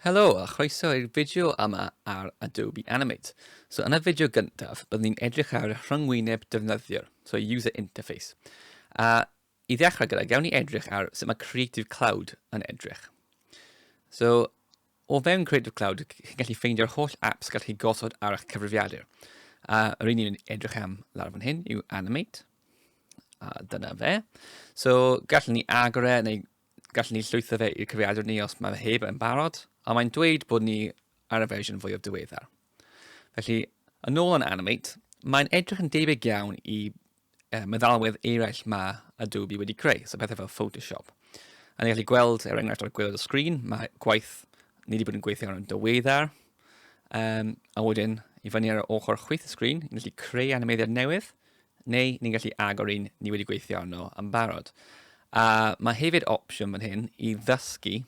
Helo a chroeso i'r fideo yma ar Adobe Animate. So yn y fideo gyntaf, byddwn ni'n edrych ar rhyngwyneb defnyddiwr, so user interface. A i ddechrau gyda, gawn ni edrych ar sut mae Creative Cloud yn edrych. So O fewn Creative Cloud, chi'n gallu ffeindio'r holl apps gallwch chi gosod ar eich cyfrifiadur. A yr un ni'n edrych am lawr fan hyn yw Animate. A dyna fe. So, gallwn ni agor e, neu gallwn ni llwytho fe i'r cyfrifiadur ni os mae fe heb yn barod, a mae'n dweud bod ni ar y fersiwn fwyaf diweddar. Felly, yn ôl yn Animate, mae'n edrych yn debyg iawn i uh, meddalwedd eraill ma Adobe wedi creu, so pethau fel Photoshop. A ni'n gallu gweld, er enghraifft ar gwylod y sgrin, mae gwaith ni wedi bod yn gweithio ar yn dyweddar, um, a wedyn i fyny ar y ochr chwyth y sgrin, ni'n gallu creu animeiddiad newydd, neu ni'n gallu agor un ni wedi gweithio arno yn barod. A mae hefyd opsiwn fan hyn i ddysgu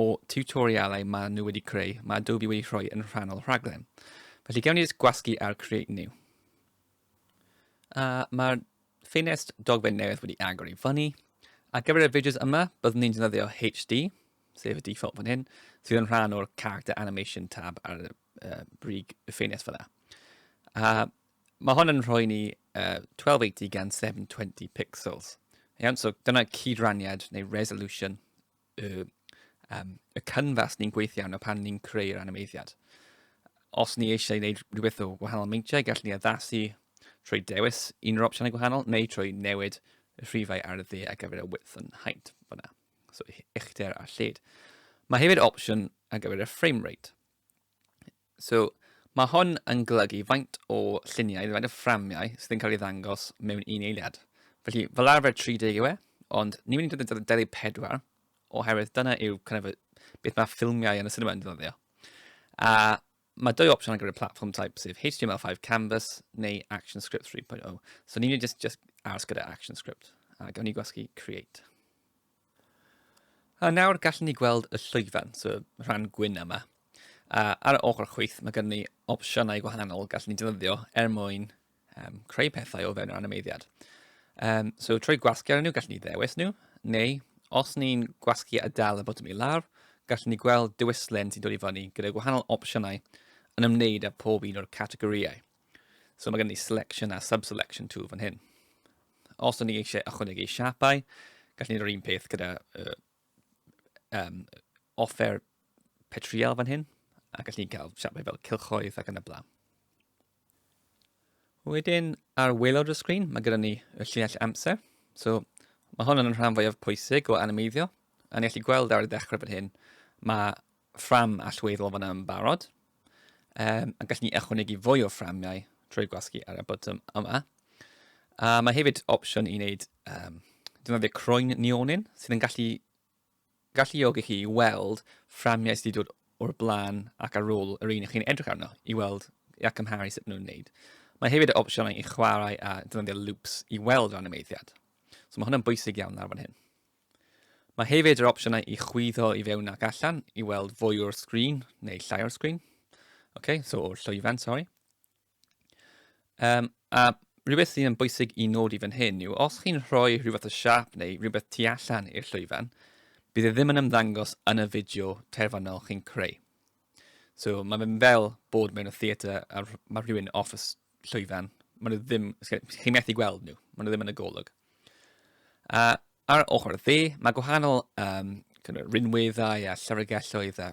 o tutorialau mae nhw wedi creu, mae Adobe wedi rhoi yn rhannol rhaglen. Felly gewn ni jyst gwasgu ar Create New. A mae'r ffenest dogfen newydd wedi agor i fyny. A gyfer y fideos yma, byddwn ni'n defnyddio HD, sef y default fan hyn, sydd yn rhan o'r character animation tab ar y uh, brig y ffenest fyna. A mae hon yn rhoi ni uh, 1280 gan 720 pixels. Iawn, so dyna cydraniad neu resolution y, um, y canfas ni'n gweithio arno pan ni'n creu'r animeiddiad. Os ni eisiau gwneud rhywbeth o wahanol meintiau, gallwn ni addasu trwy dewis un o'r opsiynau gwahanol neu trwy newid y rhifau ar y dde ar gyfer y width yn haint fyna. So uchder a lled. Mae hefyd opsiwn ar gyfer y frame rate. So, mae hwn yn golygu faint o lluniau, faint o fframiau sydd yn cael ei ddangos mewn un eiliad. Felly, fel arfer 30 yw e, ond ni'n mynd i ddod yn deli 4, oherwydd dyna yw kind of, beth mae ffilmiau yn y cinema yn ddyddio. A mae dwy opsiwn ar gyfer y platform type, sef HTML5 Canvas neu ActionScript 3.0. So ni'n mynd i just, just aros gyda ActionScript, a gawn ni gwasgu Create. A nawr gallen ni gweld y llwyfan, so rhan gwyn yma. A ar y ochr chwith mae gen ni opsiynau gwahanol gallen ni defnyddio er mwyn um, creu pethau o fewn yr animeiddiad. Um, so trwy gwasgu ar nhw gallen ni ddewis nhw, neu os ni'n gwasgu a dal y botwm i lawr, gallen ni gweld diwyslen sy'n dod i fyny gyda gwahanol opsiynau yn ymwneud â pob un o'r categorïau. So mae gen i selection a subselection tool fan hyn. Os o'n i eisiau ychwanegu siapau, gallwn ni'r un peth gyda uh, um, offer petriol fan hyn, a gallwn ni cael siapau fel cilchoedd ac yn y blaen. Wedyn, ar waelod y sgrin, mae gyda ni y llinell amser. So, mae hon yn rhan fwyaf pwysig o animeiddio. A ni allu gweld ar y dechrau fan hyn, mae ffram allweddol fan yn barod, um, a gallen ni ychwanegu fwy o fframiau trwy gwasgu ar y botwm yma. A mae hefyd opsiwn i wneud um, defnyddio croen neonin sydd yn gallu galluogi chi i weld fframiau sydd wedi dod o'r blaen ac ar ôl yr un ych chi'n edrych arno i weld a cymharu sut maen nhw'n wneud. Mae hefyd y opsiynau i chwarae a defnyddio loops i weld rhan y meiddiad. So mae hwnna'n bwysig iawn ar fan hyn. Mae hefyd yr opsiynau i chwyddo i fewn ac allan i weld fwy o'r sgrin neu llai o'r sgrin. OK, so o'r llwyfan, sori. Um, a rhywbeth sy'n bwysig i nodi fan hyn yw os chi'n rhoi rhywbeth o siap neu rhywbeth tu allan i'r llwyfan, bydd e ddim yn ymddangos yn y fideo terfynol chi'n creu. So mae fe'n fel bod mewn y theatr a mae rhywun off y llwyfan. Mae nhw ddim, chi'n methu gweld nhw, mae nhw ddim yn y golwg. A ar ochr y dde, mae gwahanol um, rinweddau a llyfrgelloedd a,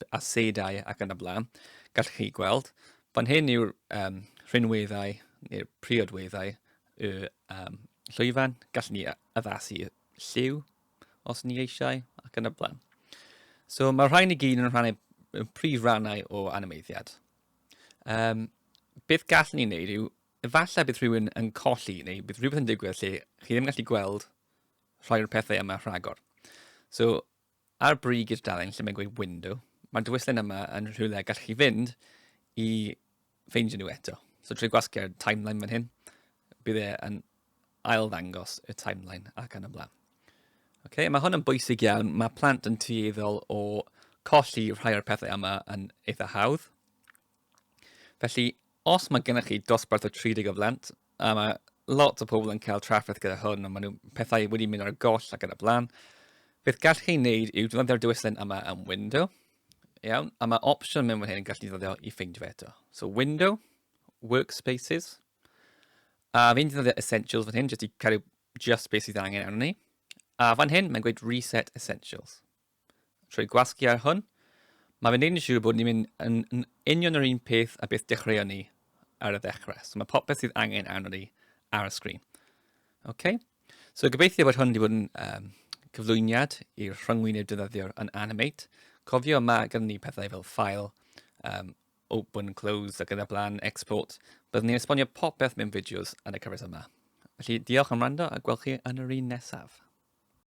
a seidau ac yn y blaen. Gallwch chi gweld, fan hyn yw'r um, rhinweddau neu'r priodweddau y um, llwyfan. Gallwn ni addasu lliw os ni eisiau, ac yn y blaen. So mae'r rhain i gyd yn rhannau yn prif rannau o animeiddiad. Um, beth gallwn ni wneud yw, efallai bydd rhywun yn colli neu bydd rhywbeth yn digwydd lle chi ddim yn gallu gweld rhai o'r pethau yma rhagor. So, ar brig i'r dalen lle mae'n gweud window, mae'r dywyslen yma yn rhywle gallwch chi fynd i ffeindio nhw eto. So trwy gwasgu'r timeline fan hyn, bydd e yn ail ddangos y timeline ac yn ymlaen. Okay, mae hwn yn bwysig iawn. Mae plant yn tueddol o colli rhai o'r pethau yma yn eitha hawdd. Felly, os mae gennych chi dosbarth o 30 o blant, a mae lot o pobl yn cael trafferth gyda hwn, a maen nhw pethau wedi mynd ar goll ac yn y blaen, beth gallwch chi wneud yw defnyddio'r diwylliant yma yn window, Iawn, a mae opsiwn mewn fan hyn yn gallu ddyddio i ffeindio fe eto. So window, workspaces, a fi'n ddyddio essentials fan hyn, jyst i cario just beth sydd angen arno ni. A fan hyn, mae'n gweud reset essentials. Trwy gwasgu ar hwn, mae fe'n neud yn siŵr bod ni'n mynd yn, yn union yr un peth a beth dechreuon ni ar y ddechrau. So mae popeth sydd angen arno ni ar y sgrin. OK, So gobeithio bod hwn wedi bod yn um, cyflwyniad i'r rhyngwyneb defnyddiwr yn Animate. Cofio yma gyda ni pethau fel file, um, open, close ac yna blaen, export. Byddwn ni'n esbonio popeth mewn fideos yn y cyfres yma. Felly diolch am rando a gwelch chi yn yr un nesaf.